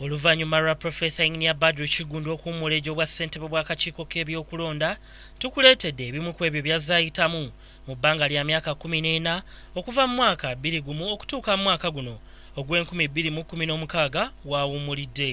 Oluvannyuma lwa Profesa Engineer Badru Kiggundu okuwummula egyo bwa ssentebe bw'akakiiko k'ebyokulonda, tukuleetedde ebimu ku ebyo by'azze ayitamu mu bbanga lya myaka kkumi n'ena okuva mu mwaka bbiri gumu okutuuka mu mwaka guno ogw'enkumi bbiri mu kkumi n'omukaaga w'awummulidde.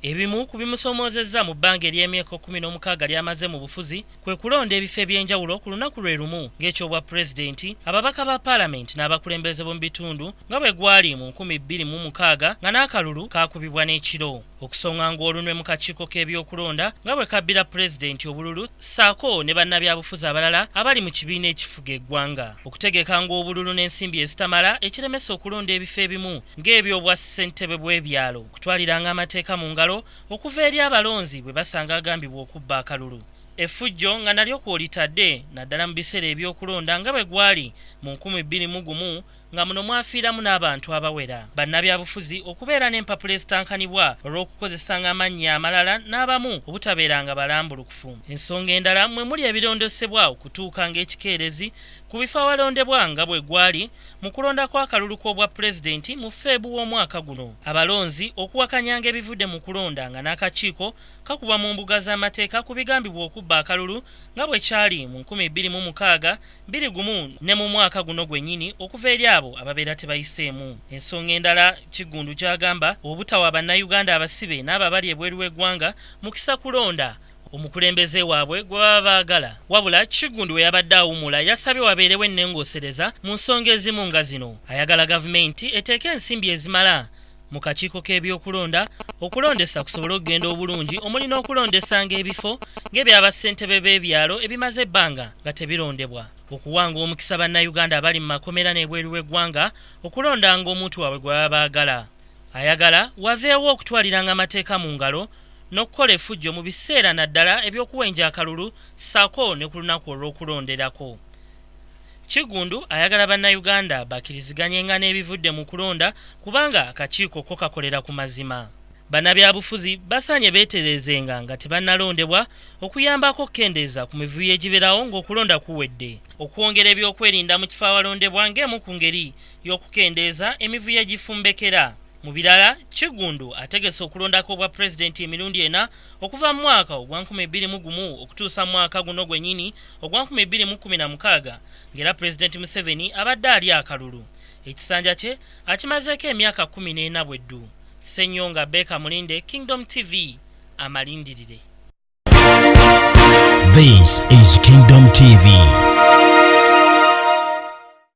Ebimu ku bimusoomoozezza mu bbanga ery'emyeko kkumi n'omukaaga ly'amaze mu bufuzi, kwe kulonda ebifo eby'enjawulo ku lunaku lwe lumu ng'ekyobwa pulezidenti ababaka ba paalamenti n'abakulembeze b'omu bitundu nga bwe gwali mu nkumi bbiri mu mukaaga nga n'akalulu kaakubibwa n'ekiro okusonga ng'olunwe mu kakiiko k'ebyokulonda nga bwe kabbira pulezidenti obululu ssaako ne bannabyabufuzi abalala abali mu kibiina ekifuga eggwanga okutegeka ng'obululu n'ensimbi ezitamala ekiremesa okulonda ebifo ebimu ng'ebyobwa ssentebe bw'ebyalo okutwaliranga amateeka mu ngalo okuva eri abalonzi bwe basanga agambibwa okubba akalulu effujjo nga nalyo kwolitadde naddala mu biseera ebyokulonda nga bwe gwali mu nkumi bbiri mu gumu nga muno mwafiiramu n'abantu abawera bannabyabufuzi okubeera n'empapula ezitankanibwa olw'okukozesanga amannya amalala n'abamu obutabeeranga balambulukufu ensonga endala mwe muli ebirondosebwa okutuuka ng'ekikeerezi ku bifo awalondebwa nga bwe gwali mu kulonda kw'akalulu k'obwa pulezidenti mu Feeb w'omwaka guno. Abalonzi okuwakanyanga ebivudde mu kulonda nga n'akakiiko kakubwa mu mbuga z'amateeka ku bigambibwa okubba akalulu nga bwe kyali mu nkumi bbiri mu mukaaga, bbiri gumu ne mu mwaka guno gwennyini okuva eri abo ababeera tebayiseemu. Ensonga endala Kiggundu gy'agamba obutawa Bannayuganda abasibe n'abo abali ebweru w'eggwanga mukisa kulonda, omukulembeze waabwe gwe baba baagala wabula kiggundu we yabadde awumula yasabye wabeerewo ennengoosereza mu nsonga ezimu nga zino ayagala gavumenti eteeke ensimbi ezimala mu kakiiko k'ebyokulonda okulondesa kusobole okugenda obulungi omuli n'okulondesanga ebifo ng'ebyabassentebe b'ebyalo ebimaze ebbanga nga tebirondebwa okuwanga omukisa bannayuganda abali mu makomera n'ebweru w'eggwanga okulondanga omuntu waabwe gwe baba baagala Ayagala waveewo okutwaliranga amateeka mu ngalo n'okukola efujjo mu biseera naddala eby'okuwenja akalulu ssaako ne ku lunaku olw'okulonderako. Kiggundu ayagala Bannayuganda bakiriziganyenga n'ebivudde mu kulonda kubanga akakiiko ko kakolera ku mazima. Bannabyabufuzi basaanye beetereezenga nga tebannalondebwa okuyambako okukendeeza ku mivuyo egibeerawo ng'okulonda kuwedde. Okwongera ebyokwerinda mu kifo awalondebwa ng'emu ku ngeri y'okukendeeza emivuyo egifumbekera mu birala kiggundu ategese okulondako obwa pulezidenti emirundi ena okuva mu mwaka ogwa 221 okutuusa mu mwaka guno gwenyini ogwa 216 ng'era pulezidenti museveni abadde ali akalulu ekisanja kye akimazeeko emyaka 14 bweddu senyonga beka mulinde kingdom tv amalindirire This is Kingdom TV.